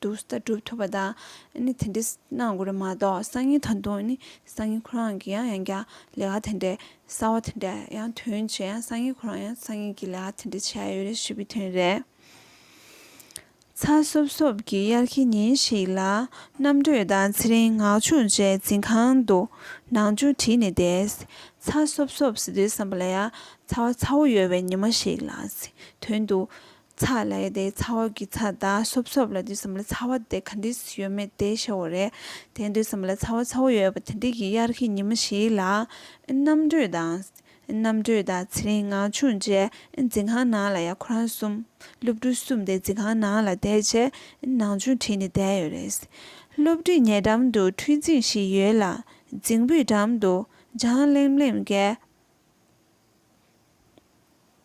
དུ་ལྟ་གྲུབ་ཐོབ་པ་དང་ནི་དེ་འདྲའི་གནང་དགོས་རེད་མ་གཏོགས་སང་ཉིན་ད་དུང་ནི་སང་ཉིན་ཁོ་རང་གི་ཡང་ཡང་བསྐྱར་ལས་ཀ་དེ་འདྲའི་གསར་བ་དེ་འདྲ་ཡང་དོན་བྱས་ཡང་སང་ཉིན་ཁོ་རང་ཡང་སང་ཉིན་གྱི་ལས་ཀ་དེ་འདྲ་བྱས་ཡོད་རེད་ཞེས་པའི་དོན་རེད། ཚ་སོབ་སོབ་ཀྱི་དབྱར་གྱི་ཉིན་ཞིག་ལ་རྣམ་གྲོལ་དང་ཚེ་རིང་ནག་ཆུང་བཅས་འཛིན་ཁང་དུ་ནང་ཆུང་བྲིས་ནས་བསྡད། ཚ་སོབ་སོབ་ཟེར་དུས་བསམ་པ་ལ་ཡང་ཚ་བ་ཚ་བོ་ཡོད་པའི་ཉི་མ་ཞིག་ལ་དོན་དུ་ཚ་ལ་ཡི་དེ་ཚ་བོ་གི་ཚ་དང་སོབ་སོབ་ལ་དུས་སམ་ལ་ཚ་བ་དེ་ག་འདྲིས་ཡོད་མེད་དེ་ཤེས་བོ་རེད་དེ་དུས་སམ་ལ་ཚ་བ་ཚ་བོ་ཡོད་པ་དེ་འདྲིས་ཀྱི་དབྱར་གྱི་ཉིན་མོ་ཞིག་ལ། རྣམ་གྲོལ་དང། རྣམ་གྲོལ་དང་ཚེ་རིང་ངག་ཆུང་བཅས་འཛིན་ཁང་ནང་ལ་ཡང་ཁོ་རང་གསུམ། སློབ་ཕྲུག་གསུམ་དེ་འཛིན་ཁང་ནང་ལ་བསྡད་རྗེས་ནང་ཆུང་བྲིས་ནས་བསྡད་ཡོད་རེད། སློབ་ཁྲིད་ཉེ་འགྲམ་དུ་འཕྲུལ་རྫིང་ཞིག་ཡོད་ལ་རྫིང་བུའི་འགྲམ་དུ་ལྗང་ལེམ་ལེམ་གྱི།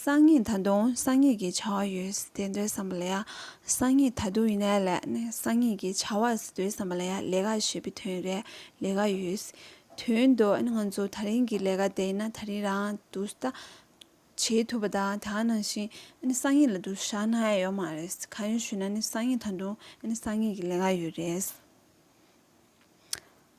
གསང་གཉིས་ད་དུང་གསང་གཉིས་ཀྱི་བྱ་བ་ཡོད་ཟེར་དེ་འདྲའི་བསམ་པ་ལ་ཡང་གསང་གཉིས་ད་དུང་ཡིན་ན་ལས་གསང་གཉིས་ཀྱི་བྱ་བ་ཟེར་དུས་བསམ་པ་ལ་ཡང་ལས་ཀ་ཞེས་པའི་དོན་རེད་ལས་ཀ་ཡོད་ཟེར་དོན་དུ་ང་ཚོ་ད་རིང་གི་ལས་ཀ་དེ་ཡིན་ན་ད་རིང་རང་དུ་ཟ་བྱེད་ཐུབ་པ་དང་དེ་ནང་བཞིན་གསང་གཉིས་ལ་དུ་ཟ་ན་ཡོད་མ་རེད་གང་ཡིན་ཞུས་ན་གསང་གཉིས་ད་དུང་གསང་གཉིས་ཀྱི་ལས་ཀ་ཡོད་རེད།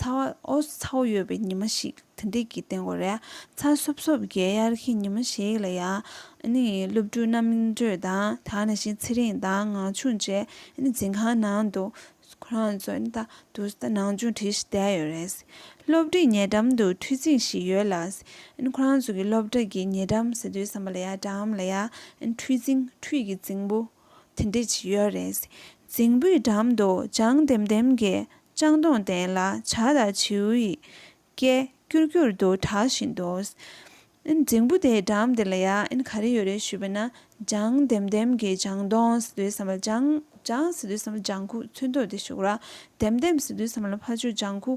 ཚ་བ་ཨོ་སོ་ཚ་བོ་ཡོད་པའི་ཉི་མ་ཞིག་དེ་འདྲས་ཀྱི་སྟེང་གོ་རེ་ཚ་སོབ་སོབ་བརྒྱའི་དབྱར་ཁའི་ཉི་མ་ཞིག་ལ་ཡང་ནི་སློབ་ཕྲུག་རྣམས་མིང་སྤྲོད་དང་དག་ནས་ཤིང་ཚེ་རིང་དང་ངང་ཆུང་བཅས་ནི་འཛིན་ཁང་ནང་དུ་ཁོ་རང་ཚོ་ནི་ད་དུ་ད་ནང་ཆུང་བྲིས་ཤིག་བསྡད་ཡོད་རེད། སློབ་ཁྲིད་ཉེ་འགྲམ་དུ་འཕྲུལ་ཚིག་ཞིག་ཡོད་ལ། ཁོ་རང་ཚོ་གི་སློབ་གྲྭ་གི་ཉེ་འགྲམ་ཟེར་དུས་བསམ་པ་ལ་ཡང་འགྲམ་ལ་ཡང་འཕྲུལ་ཚིག་འཕྲུལ་གྱི་རྫིང་བུ་དེ་འདྲ་ཅིག་ཡོད་རེད། རྫིང་བུའི་འགྲམ་དུ་ལྗང་ལྡེམ་ལྡེམ་གྱི་ལྕང་སྡོང་ལྡན་ལ་བྱ་དང་བྱིའུ་ཡི་སྐད་ཀྱུར་ཀྱུར་དུ་གྲགས་བཞིན་འདུག། རྫིང་བུ་དེའི་འགྲམ་དེ་ལ་ཡང་ག་རེ་ཡོད་རེད་ཞུས་པ་ན། ལྗང་ལྡེམ་ལྡེམ་གྱི་ལྗང་སྡོང་ཟེར་དུས་བསམ་པ་ལྗང། ལྗང་ཟེར་དུས་བསམ་པ་ལྗང་ཁུ་ཚོན་མདོག་དེ་བཞུགས་ལ། ལྡེམ་ལྡེམ་ཟེར་དུས་བསམ་པ་ལ་ཕ་ཆུ་ལྗང་ཁུ།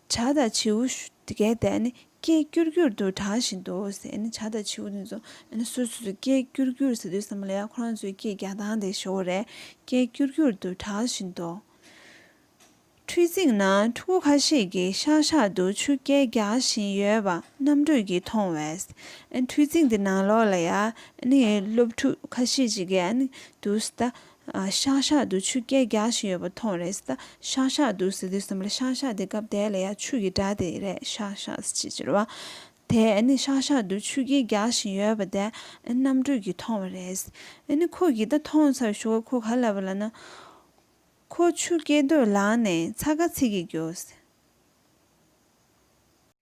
བྱ་དང་བྱིའུ་འགས་ཏེ་ནི་སྐད་སྐྱུར་སྐྱུར་དུ་གྲགས་བཞིན་དུ་ཟེར་ནི་བྱ་དང་བྱིའུ་དེ་ཚོ་ནི་སོ་སོས་སྐད་སྐྱུར་སྐྱུར་ཟེར་དུས་བསམ་པ་ལས་ཁོ་རང་ཚོའི་སྐད་རྒྱག་སྟངས་དེ་ཞོ་བོ་རེད་སྐད་སྐྱུར་སྐྱུར་དུ་གྲགས་བཞིན་དུ། འཕྲུལ་ཚིགས་ན་ཕྲུ་གུ་ཁ་ཤས་ཀྱིས་ཤག་ཤག་ཏུ་ཆུ་སྐད་རྒྱག་བཞིན་ཡོད་པ་རྣམ་གྲོལ་གྱིས་མཐོང་བས། འཕྲུལ་ཚིགས་དེ་ནང་ལོགས་ལ་ཡང་ནི་སློབ་ཕྲུག་ཁ་ཤས་ཅིག་གིས་ནི་འདུག་ཟླ་ཤག་ཤག་དུ་ཆུ་སྐྱེས་རྒྱག་བཞིན་ཡོད་པ་མཐོང་རེས་ད་ཤག་ཤག་འདུག་ཟེར་དུས་སེམས་ལ་ཤག་ཤག་དེ་སྐབས་དེ་ལ་ཡང་ཆུ་ཡི་སྒྲ་དེ་རེད་ཤག་ཤག་ཅེས་ཟེར་བ་དེ་ནི་ཤག་ཤག་དུ་ཆུ་སྐྱེས་རྒྱག་བཞིན་ཡོད་པ་དེ་རྣམ་གྲོལ་གྱིས་མཐོང་བ་རེད། ཁོ་གིས་ད་ཐོངས་ཚར་བཞུགས་ཁ་ཁོ་ག་ལ་བ་ལ་ན། ཁོ་ཆུ་སྐྱེས་དུ་ལངས་ནས་ཚ་ག་ཚིག་གིས་རྒྱོ།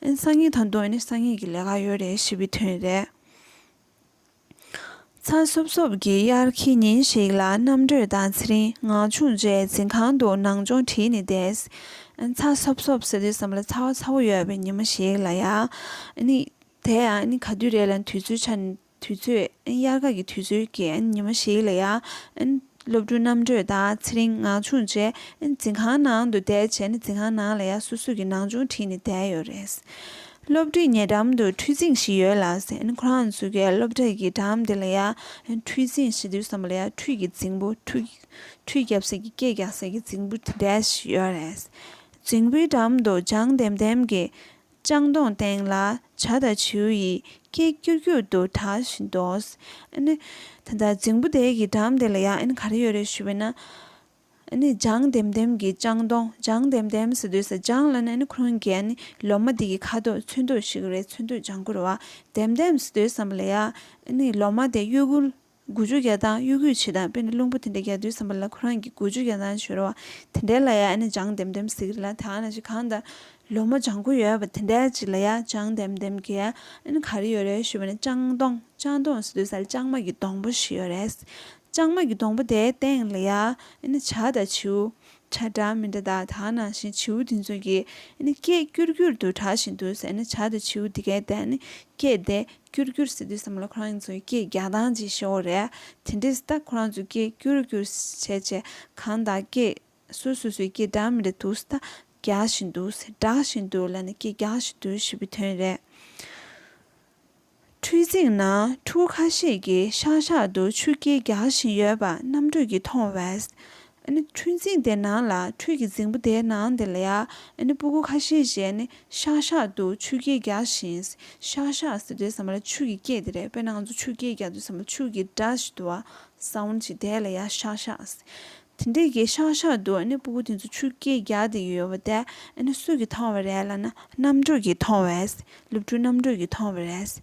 ཨན་སང་ཉིན་ད་དུང་ཨན་སང་ཉིན་གྱི་ལས་ཀ་ཡོད་རེད་ཞེས་པའི་དོན་རེད། ཚ་སོབ་སོབ་ཀྱི་དབྱར་ཁའི་ཉིན་ཞིག་ལ་རྣམ་གྲོལ་དང་ཚེ་རིང་ངག་ཆུང་བཅས་འཛིན་ཁང་དུ་ནང་སྦྱོང་བྲིས་ནས་བསྡད། ཚ་སོབ་སོབ་ཟེར་དུས་བསམ་བློ་ཚ་བ་ཚ་བོ་ཡོད་པའི་ཉིན་མོ་ཞིག་ལ་ཡང། དེ་ཡང་ག་དུས་རེད་ལ་དུས་ཚོད་ཆ་ནས་དུས་ཚོད། དབྱར་ཁ་གི་དུས་ཚོད་ཀྱི་ཉི་མ་ཞིག་ལ་ཡང། སློབ་ཕྲུག་རྣམ་གྲོལ་དང་ཚེ་རིང་ངག་ཆུང་བཅས་འཛིན་ཁང་ནང་དུ་བསྡད་རྗེས་ནས་འཛིན་ཁང་ནང་ལ་ཡང་སོ་སོ་གི་ནང་སྦྱོང་བྲིས་ནས་བསྡད་ཡོད་རེད། སློབ་ཁྲིད་ཉེ་འགྲམ་དུ་འཕྲུལ་ཆིངས་ཤིག་ཡོད་ལ། ཁོ་རང་ཚོ་གའི་སློབ་གྲྭ་གི་འགྲམ་དེ་ལ་ཡང་འཕྲུལ་ཆིངས་ཞེ་དུས་བསམ་པ་ལ་ཡང་འཕྲུལ་གྱི་རྫིང་བུ། འཕྲུལ་རྒྱབ་སེར་གྱི་སྐད་རྒྱག་སེར་གྱི་རྫིང་བུ་དེ་འདྲ་ཞིག་ཡོད་རེད། རྫིང་བུའི་འགྲམ་དུ་ལྗང་ལྡེམ་ལྡེམ་གྱི་ལྕང་སྡོང་སྟེང་ལ་བྱ་དང་བྱིའུ་ཡི་སྐད་ཀྱུར་ཀྱུར་དུ་གྲགས་བཞིན་དུ། ད་ལྟ་རྫིང་བུ་དེ་ཡི་འགྲམ་དེ་ལ་ཡང་ག་རེ་ཡོད་རེད་ཞུས་པས་ན། ལྗང་ལྡེམ་ལྡེམ་གྱི་ལྕང་སྡོང་ལྗང་ལྡེམ་ལྡེམ་ཟེར་དུས་སུ་ལྗང་ལ་ནི་ཁུང་གི་ལོ་མ་དེ་ཡི་ཁ་དོག་ཚོན་མདོག་ཞིག་རེད་ཚོན་མདོག་ལྗང་གུ་རེད་བ། ལྡེམ་ལྡེམ་ཟེར་དུས་སམ་ལ་ཡ། ལོ་མ་དེ་གཡོ་འགུལ་དགུ་བཅུ་བརྒྱ་དང་གཡོ་སྒུལ་བྱེད་དང་དཔེར་ན་རླུང་བུ་དེ་འདྲ་རྒྱག་དུས་བསམ་པ་ལ་ཁོ་རང་གིས་དགུ་བཅུ་བརྒྱ་དང་བྱོལ་བ་དེ་འདྲའི་ལ་ཡ་ཨ་ནི་ལྗང་ལྡེམ་ལྡེམ་ཟིག་རེད་ལ་དེའང་ན་ཅིག་གང་ལྟར་ལོ་མོ་ལྗང་ཁུ་ཡོད་པ་དེ་འདྲའི་ཅིག་ལ་ཡ་ལྗང་ལྡེམ་ལྡེམ་གྱི་ཨ་ནི་ག་རེ་ཡོད་རེད་ཞུས་པ་ནས་ལྕང་སྡོང་ལྕང་སྡོང་ཟེར་དུས་སར་ལྕང་མ་གི་སྡོང་པོ་ཞིག་ཡོད་རེད། ལྕང་མ་གི་སྡོང་པོ་དེའི་སྟེང་ལ་ཡ་ཨ་ནི་བྱ་དང་བྱིའུ། བྱ་འདྲ་མི་འདྲ་དང་དེའང་ནང་བཞིན་བྱིའུ་དེ་ཚོ་གིས་ཨ་ནི་སྐད་སྐྱུར་སྐྱུར་དུ་གྲགས་བཞིན་འདུག་ཟེར་ནས་བྱ་དང་བྱིའུ་དེ་གའི་སྟེང་ཨ་ནི་སྐད་དེ་ཀྱུར་ཀྱུར་ཟེར་དུས་བསམ་བློ་ཁོ་རང་ཚོའི་སྐད་རྒྱག་སྟངས་ཀྱི་ཤོག་རེད། དེ་འདྲས་ད་ཁོ་རང་ཚོའི་སྐད་ཀྱུར་ཀྱུར་བྱས་བྱས་གང་དང་སྐད། སུ་སོ་སོའི་སྐད་སྒྲ་མི་རེད་འདུག་ཟེར་ད་རྒྱག་བཞིན་འདུག་ཟེར་སྒྲག་བཞིན་འདུག་ལ་ནི་སྐད་རྒྱག་བཞིན་འདུག་ཞེས་པའི་དོན་རེད། འཕྲུལ་རྫིང་ན་ཕྲུ་གུ་ཁ་ཤས་ཀྱིས་ཤག་ཤག་ཏུ་ཆུ་སྐྱེལ་རྒྱག་བཞིན་ཡོད་པ་རྣམ་གྲོལ་གྱིས་མཐོང་བས། ཁྲུས་རྫིང་དེ་ནང་ལ་ཁྲུས་ཀྱི་རྫིང་བུ་དེའི་ནང་དེ་ལ་ཡང་སྤུ་གུ་ཁ་ཤས་ཞེས་ནི་ཤག་ཤག་ཏུ་ཆུ་སྐྱེས་རྒྱག་བཞིན། ཤག་ཤག་ཟེར་དུས་ཟ་མ་ལ་ཆུ་གི་སྐྱེས་དེ་རེད་དཔེར་ན་ང་ཚོ་ཆུ་སྐྱེས་རྒྱག་དུས་ཟ་མ་ཆུ་གི་སྒྲ་ཞིག་དུ་བ་སང་བོན་ཞིག་དེ་ལ་ཡང་ཤག་ཤག་ཟེར། དེ་འདྲའི་གི་ཤག་ཤག་ཏུ་སྤུ་གུ་དེ་ཚོ་ཆུ་སྐྱེས་རྒྱག་དེ་ཡོད་པ་དེ་སུ་གིས་མཐོང་བ་རེད་ལ་ན། རྣམ་གྲོལ་གྱིས་མཐོང་བས་སློབ་ཕྲུག་རྣམ་གྲོལ་གྱིས་མཐོང་བ་རེད།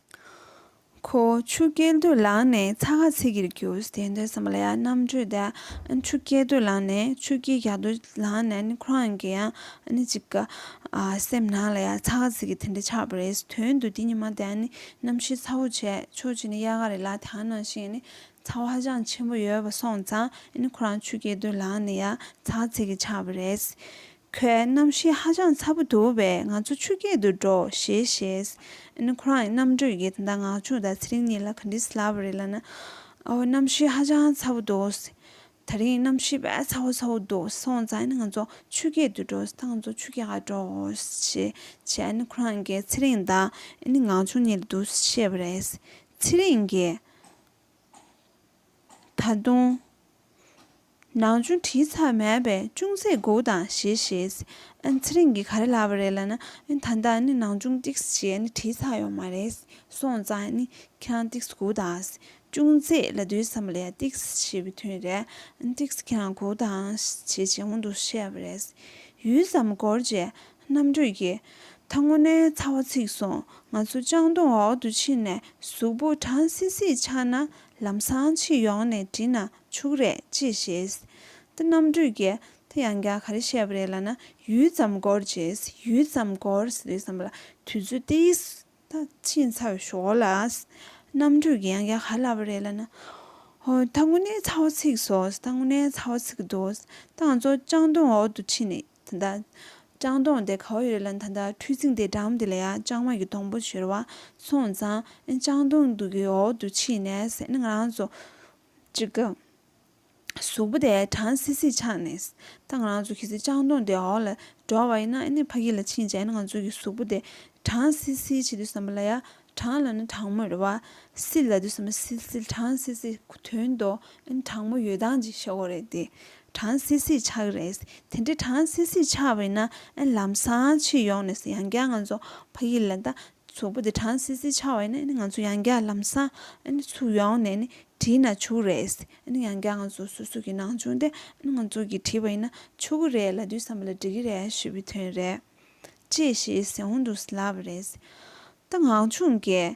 ཁོ་ཆུ་སྐྱེས་དུས་ལངས་ནས་ཚ་ཁ་ཚིལ་གྱིས་བསྒྱུར་དེ་འདོད་སྲམ་ལ་ཡང་རྣམ་དྲོད་དེ་ཆུ་སྐྱེས་དུས་ལངས་ནས་ཆུ་སྐྱེས་རྒྱག་དུས་ལངས་ནས་ཁོ་རང་གི་ཡང་ཅིག་གི་སེམས་ནང་ལ་ཡང་ཚ་ཁ་ཚིལ་གྱིས་དེ་འདྲ་ཆགས་པ་རེད་དོན་དུ་དེ་ཉི་མ་དེ་གནམ་གཤིས་ཚ་བོ་བྱས་ཕྱོགས་གཅིག་ནས་དབྱར་ཁ་རེད་ལ་དེ་ག་ནང་བཞིན་ཚ་བ་ཧ་ཅང་ཆེན་པོ་ཡོད་པ་སོང་ཙང་ཁོ་རང་ཆུ་སྐྱེས་དུས་ལངས་ནས་ཡང་ཚ་ཁ་ཚིལ་གྱིས་ཆགས་པ་རེད། ཁོའི་རྣམ་ཤེས་ཧ་ཅང་ཚ་པོ་འདུག་བས་ང་ཚོ་ཆུ་སྐྱེལ་དུ་འགྲོ་ཞེས་བཤད། ཨན་ཁོ་རང་ཡི་རྣམ་དྲོད་ཀྱིས་ད་ལྟ་ནག་ཆུ་དང་ཚེ་རིང་གཉིས་ལ་ག་འདྲི་ཟེར་ལབ་པ་རེད་ལབ་ན། ཨོ་རྣམ་ཤེས་ཧ་ཅང་ཚ་པོ་འདུག། ད་རིང་རྣམ་ཤེས་བས་ཚ་བོ་ཚ་བོ་འདུག་སོང་ཙང་ང་ཚོ་ཆུ་སྐྱེལ་དུ་འགྲོ་ད་ང་ཚོ་ཆུ་སྐྱེལ་ག་འགྲོ་ཞེས་བྱས་ཨན་ཁོ་རང་གིས་ཚེ་རིང་དང་ཨན་ནག་ཆུ་གཉིས་ལ་འདུག་བཤད་པ་རེད། ཚེ་རིང་གིས། ད་དུང། ནང་ཆུང་དྲི་ཚ་མེད་པས་ཅུང་ཟད་དགུག་དང་ཞེས་བཤད། ཚེ་རིང་གིས་ག་རེ་ལབ་པ་རེད་ལབ་ན། ད་ལྟ་ནི་ནང་ཆུང་སྟེགས་སུ་བྱས་ནས་དྲི་ཚ་ཡོང་མ་རེད། སོང་ཙང་ནི་ཁྱེད་རང་སྟེགས་སུ་གུག་དང། ཅུང་ཟད་ལ་སྡོད་བསམ་པ་ལས་སྟེགས་སུ་ཞེས་པའི་དོན་རེད། སྟེགས་སུ་ཁྱེད་རང་གུག་དང་ཞེས་ཇེ་སྔོན་དུ་བཤད་པ་རེད། ཡུད་ཙམ་འགོར་རྗེས་རྣམ་གྲོལ་གྱིས། ད་སྔོ་ནའི་ཚ་བ་ཚིག་སོང་ང་ཚོ་ལྕང་སྡོང་འོག་ཏུ་ཕྱིན་ནས་གཟུགས་པོ་གྲང་སིད་སིད་ཆགས་ན་ལམ་སང་ཕྱིར་ཡོང་ནས་བྲིས་ན་ཕྱུགས་རེད་ཅེས་བཤད། ཏེ་རྣམ་སྤྲུལ་གྱིས་དེ་ཡང་བསྐྱར་ག་རེ་བཤད་པ་རེད་ལབ་ན་ཡུད་ཙམ་འགོར་བྱས། ཡུད་ཙམ་འགོར་ཟེར་དུས་བསམ་པ་ལ་དུས་ཚོད་དེ་ཡིས་ད་ཕྱིན་ཚར་བའི་ཞོར་ལ། རྣམ་སྤྲུལ་གྱིས་ཡང་བསྐྱར་ག་རེ་ལབ་པ་རེད་ལབ་ན། ཧོ་ད་དངོས་གནས་ཚ་བ་ཚིག་སོ། ད་དངོས་གནས་ཚ་བ་ཚིག་འདུག་ད་ང་ཚོ་ལྕང་སྡོང་འོག་ཏུ་ཕྱིན་ནས་ད་ལྟ། ལྕང་སྡོང་དེ་ག་བ་ཡོད་རེད་ལབ་ན་ད་ལྟ་ཁྲུས་ཚིག་དེའི་འགྲམ་དེ་ལ་ཡང་ལྕང་མ་གི་སྡོང་པོ་བྱོལ་བ་སོང་ཙང། ལྕང་སྡོང་དུ་གི་འོག་ཏུ་ཕྱིན་ནས་ཟེར་ན་ང་རང་ཚོ། ཅི་དགའ། གཟུགས་པོ་དེ་གྲང་སིལ་སིལ་ཆགས་ནས། ད་ང་རང་ཚོ་ཁྱེད་ཚོའི་ལྕང་སྡོང་དེ་འོག་ལ་འགྲོ་བ་ཡིན་ན་ཨེ་ནས་ཕ་ཁྱི་ལ་ཕྱིན་བྱས་ན་ང་ཚོའི་གཟུགས་པོ་དེ་གྲང་སིལ་སིལ་བྱེད་དུས་བསམ་པ་ལ་ཡ། གྲང་ལ་ནི་གྲང་མོ་རེད་བ། སིལ་ལ་དུས་བསམ་པ་སིལ་སིལ་གྲང་སིལ་སིལ་ཁུ་དོན་ཏོ། ཨེ་ནི་གྲང་མོ་ཡོད་སྟངས་ཀྱི་ཤ་བོ་རེད་དེ། གྲང་སིལ་སིལ་ཆགས་ཀྱི་རེད། དེ་འདྲའི་གྲང་སིལ་སིལ་ཆགས་པ་ཡིན་ན་ཨེ་ལམ་སང་ཕྱིར་ཡོང་ནས་ཡང་བསྐྱར་ང་ཚོ་ཕ་ཁྱི་ལ་ད་ཚོགས་པ་དེ་གྲངས་སིལ་སིལ་ཆགས་བས་ནི་ང་ཚོ་ཡང་བསྐྱར་ལམ་སང་ཚུར་ཡོང་ནས་ནི་བྲིས་ན་བྱུག་རེད། ཡང་བསྐྱར་ང་ཚོ་སོ་སོ་གི་ནང་ཆུང་དེ་ང་ཚོ་གིས་བྲིས་པ་ཡིན་ན་ཆོག་གི་རེད་ལ་དུས་སམ་ལ་འགྲིག་གི་རེད་ཞུས་པའི་དོན་རེད། ཅེས་ཞེས་ཟེར་འོང་འདུག་ལབ་པ་རེད། ད་ངག་ཆུང་གས།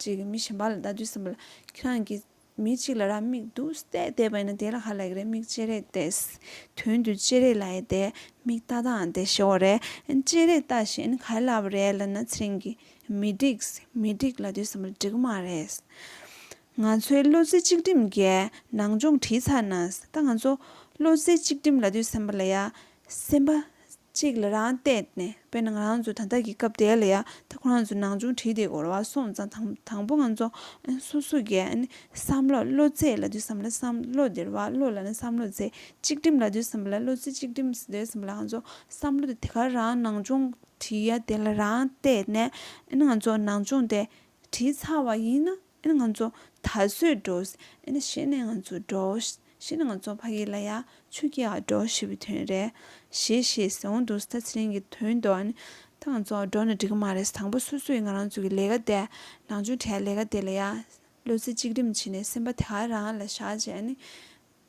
ཅིག་མི་གཞན་པ་ལ་བལྟ་དུས་སེམས་པ་ལ་ཁྱེད་རང་གིས་མི་གཅིག་ལ་ར་མིག་དུ་བལྟས་བསྡད་པ་ཡིན་ན་དེ་ལ་ཧ་ལས་ཀྱི་རེད་མིག་ཅེ་རེ་བལྟས་དོན་དུ་ཅེ་རེ་ལ་ཡེ་བལྟས་མིག་ལྟ་ལྟའང་བལྟས་ཤེས་བ་རེད་ཅེ་རེ་ལྟ་བཞིན་ག་རེ་ལབ་པ་རེད་ལབ་ན་ཚེ་རིང་གིས་མི་འགྲིག་མི་འགྲིག་ལབ་དུས་སེམས་པ་ལ་འགྲིག་གི་མ་རེད། ང་ཚོའི་བློ་རྩེ་གཅིག་སྒྲིམ་རྒྱའི་ནང་སྦྱོང་བྲིས་ཚར་ན་ད་ང་ཚོ་བློ་རྩེ་གཅིག་སྒྲིམ་ལབ་དུས་སེམས་པ་ལ་ཡ་སེམས་པ་གཅིག་ལ་རང་གཏད་ནས་དཔེར་ན་ང་རང་ཚོ་ད་ལྟ་གི་སྐབས་དེ་ལ་ཡ་ད་ཁོ་རང་ཚོ་ནང་ཆུང་བྲིས་ཏེ་གོ་ར་བ་སོང་ཙང་དང་དང་པོ་ང་ཚོ་སོ་སོ་གི་བསམ་བློ་བློ་རྩེ་ལ་དུས་བསམ་ལ་བསམ་བློ་བདེར་བ་བློ་ལ་ནི་བསམ་བློ་རྩེ་གཅིག་སྒྲིམ་ལ་དུས་བསམ་བློ་བློ་རྩེ་གཅིག་སྒྲིམ་དུས་བསམ་བློ་ང་ཚོ་བསམ་བློ་དེ་དེ་གར་རང་ནང་ཆུང་བྲིས་ཡ་དེ་ལ་རང་གཏད་ནས་ང་ཚོ་ནང་ཆུང་དེ་བྲིས་ཚར་བ་ཡིན་ན། ཨེ་ང་ཚོ་ད་གཟོད་འགྲོའོ། ཨེ་ན་ཤེས་ནས་ང་ཚོ་འགྲོའོ། ཤེས་ནས་ང་ཚོ་ཕ་གི་ལ་ཡ་ཆོས་ཀྱི་ཡ་འགྲོ་ཞེས་པའི་དོན་རེད། ཞེས་ཞེས་ཟེར་འོང་འདུག་ད་ཚེ་རིང་གི་དོན་དུ་ཨེ་ད་ང་ཚོ་འགྲོ་ན་འགྲིག་གི་མ་རེད་དང་པོ་སོ་སོས་ང་རང་ཚོ་གི་ལས་ཀ་དེ་ནང་ཆོས་གྲྭའི་ལས་ཀ་དེ་ལ་ཡ་བློ་རྩེ་གཅིག་སྒྲིམ་བྱས་ནས་སེམས་པ་དེ་ག་རང་ལ་བཞག་རྗེས་ཨེ་ན།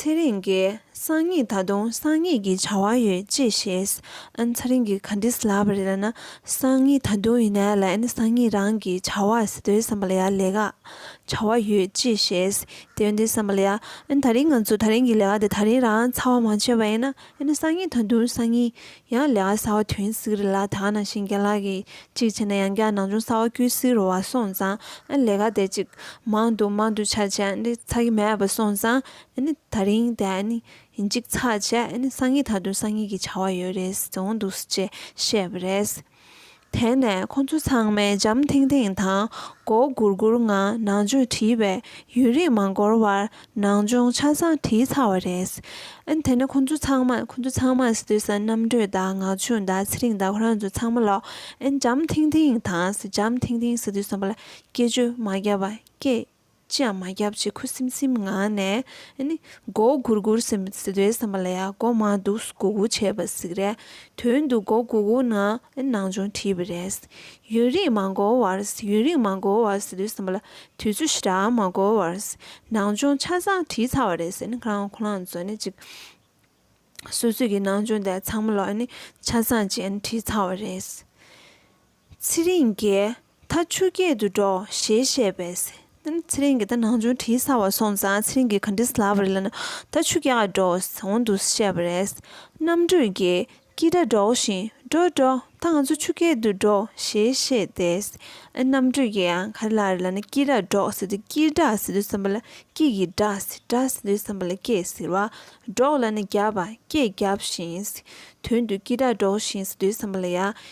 ཚེ་རིང་གིས་སང་ཉིན་ད་དུང་སང་ཉིན་གྱི་བྱ་བ་ཡོད་ཅེས་བཤད། ཚེ་རིང་གིས་ག་འདྲས་ལབ་རེད་ལབ་ན་སང་ཉིན་ད་དུང་ཡིན་ནའི་ལན་ནི་སང་ཉིན་རང་གི་བྱ་བ་ཟེར་དོན་བསམ་པ་ལ་ཡ་ལས་ཀ་བྱ་བ་ཡོད་ཅེས་བཤད། དེ་འདྲས་བསམ་པ་ལ་ཡ། ད་རིང་ང་ཚོ་ད་རིང་གི་ལས་ཀ་དེ་ད་རིང་རང་ཚ་བ་མང་ཆེ་བ་ཡིན་ན། ཨེ་ན་སང་ཉིན་ད་དུང་སང་ཉིན། ཡང་ལས་ཀ་སར་བ་དོན་གཟིགས་རེད་ལ་ད་ནང་བཞིན་རྒྱ་ལག་གིས་གཅིག་བྱས་ན་ཡང་རྒྱ་ནང་ཆུང་སར་བ་སྐྱུར་གཟིགས་རོ་བ་སོང་ཙང་ཨེ་ལས་ཀ་དེ་ཅིག་མང་འདུག་མང་འདུག་ཆ་བྱས་ཨེ་ཚར་གི་མེད་པ་སོང་ཙང་ཨེ་ནི་ད་རིང་དེ་ཨེ་ནི་ཡིན་གཅིག་ཚར་བྱས་ཨེ་ནི་སང་ཉིན་ད་དུང་སང་ཉིན་གྱི་བྱ་བ་ཡོད་རེད་ཟེར་འོང་འདུག་ཅེས་བཤད་པ་རེད། དེ་ནས་ཁོ་ཚོ་ཚང་མས་འཇམ་ཐིང་ཐིང་དང་མགོ་སྒུར་སྒུར་ངང་ནང་ཆོས་བྲིས་པས་ཡུན་རིང་མ་འགོར་བར་ནང་སྦྱོང་ཆ་ཚང་བྲིས་ཚར་བ་རེད། དེ་ནས་ཁོ་ཚོ་ཚང་མ་ཁོ་ཚོ་ཚང་མ་སི་ཏུས་དང་རྣམ་གྲོལ་དང་ངག་ཆུང་དང་ཚེ་རིང་དང་ཁོ་རང་ཚོ་ཚང་མ་ལོགས་འཇམ་ཐིང་ཐིང་དང་འཇམ་ཐིང་ཐིང་སི་ཏུས་གསུམ་པ་ལ་སྐད་ཅུ་མ་བརྒྱ་པ་སྐད་ཅི་ཡང་མ་བརྒྱབ་ཅེས་ཁུ་སིམ་སིམ་ངང་ནས་མགོ་བོ་གུར་གུར་ཟེར་བའི་བསམ་པ་ལ་ཡང་མགོ་མ་འདུག་སྒུག་སྒུག་བྱས་པ་ཟིག་རེད་དོན་དུ་མགོ་གུག་གུག་ནང་ནང་ཆུང་བྲིས་པ་རེད། ཡུན་རིང་མ་འགོར་བར་ཡུན་རིང་མ་འགོར་བར་ཟེར་བའི་བསམ་པ་ལ་དུས་ཚོད་ཞེ་དྲག་མ་འགོར་བར་ནང་ཆུང་ཆ་ཚང་བྲིས་ཚར་བ་རེད་ཟེར་ནས་ཁ་རང་ཁོ་རང་ཚོ་ནས་ཅིག་སོ་སོས་ཀྱི་ནང་ཆུང་དེ་ཚང་མ་ལ་ཆ་ཚང་བཅས་བྲིས་ཚར་བ་རེད། ཚེ་རིང་རྒྱལ། ད་ཆུ་སྐྱེས་དུ་འགྲོ་ཞེས་བཤད་པས། ཚེ་རིང་གིས་ད་ནང་ཆུང་བྲིས་ཚར་བ་སོང་ཙང་ཚེ་རིང་གིས་ག་འདྲིས་ལབ་རེད་ལབ་ན་ད་ཆུ་སྐྱེས་ཀ་འགྲོ་འོང་འདུག་བཤད་པ་རེད། རྣམ་གྲོལ་རྒྱལ། ཀི་ད་འགྲོ་བཞིན་འགྲོ་འགྲོ་ད་ང་ཚོ་ཆུ་སྐྱེས་དུ་འགྲོ་ཞེས་བཤད་དེ། རྣམ་གྲོལ་རྒྱལ་ཡང་ག་རེ་ལབ་རེད་ལབ་ན་ཀི་རག་འགྲོ་ཟེར་དུས་ཀིར་འགྲག་ཟེར་དུས་བསམ་པ་ལ་ཀི་གིས་འགྲག་ཟེར་འགྲག་ཟེར་དུས་བསམ་པ་ལ་སྐྱེས་ཟེར་བ། འགྲོག་ལབ་ན་རྒྱབ་པ་སྐྱེས་རྒྱབ་བཞིན། དོན་དུ་ཀི་ད་འགྲོ་བཞིན་ཟེར་དུས་བསམ་པ་ལ་ཡ་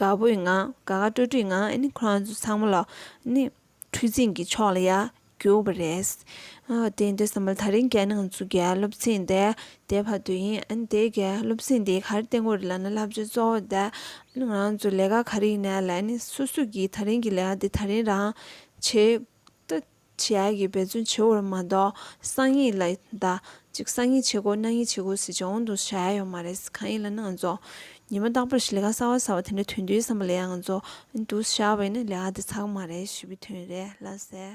དགའ་བོའི་ངང་དགའ་དགའ་སྤྲོ་སྤྲོའི་ངང་ནི་ཁོ་རང་ཚོ་ཚང་མ་ལ་ནི་འཕྲུལ་ཚིགས་ཀྱི་ཕྱོགས་ལ་ཡར་རྒྱུགས་པ་རེད། དེ་འདྲ་བསམ་པ་ད་རིང་གལ་ནང་ཚུད་ཀྱི་སློབ་ཚན་དེ་དེ་བར་དུ་ཡིན། དེ་གའི་སློབ་ཚན་དེའི་གར་སྟེགས་ངོས་རེ་ལ་ནི་བསླབ་བྱ་གཙོ་བོ་དེ་ང་རང་ཚོ་ལས་ཀ་ག་རེ་ཡིན་ན་ལ་ནི་སོ་སོ་གིས་ད་རིང་གི་ལས་ཀ་དེ་ད་རིང་རང་བྱེད་ལྟ་བྱེད་ཀྱི་འབད་བརྩོན་བྱེད་བར་མ་གཏོགས་གསང་ཡིག་ལ་ཟླ་གཅིག་གསང་ཡིག་བྱེད་དགོས་གནང་ཡིག་བྱེད་དགོས་ཟེར་བྱ་འོང་དུ་བྱ་ཡ་ཡོད་མ་རེད་གང་ཡིན་ལ་ནི་ང་ཚོ་ཉི་མ་རྟག་པར་ཞིག་ལས་ཀ་གསར་བ་གསར་བ་དེ་འདྲ་དོན་བསྡུའི་བསམ་པ་ལས་ཡ་ང་ཚོ་འདུ་བྱ་བས་ནི་ལས་ཀ་དེ་ཚགས་མ་རེད་ཞེས་པའི་དོན་རེད་ལ་ཟེར།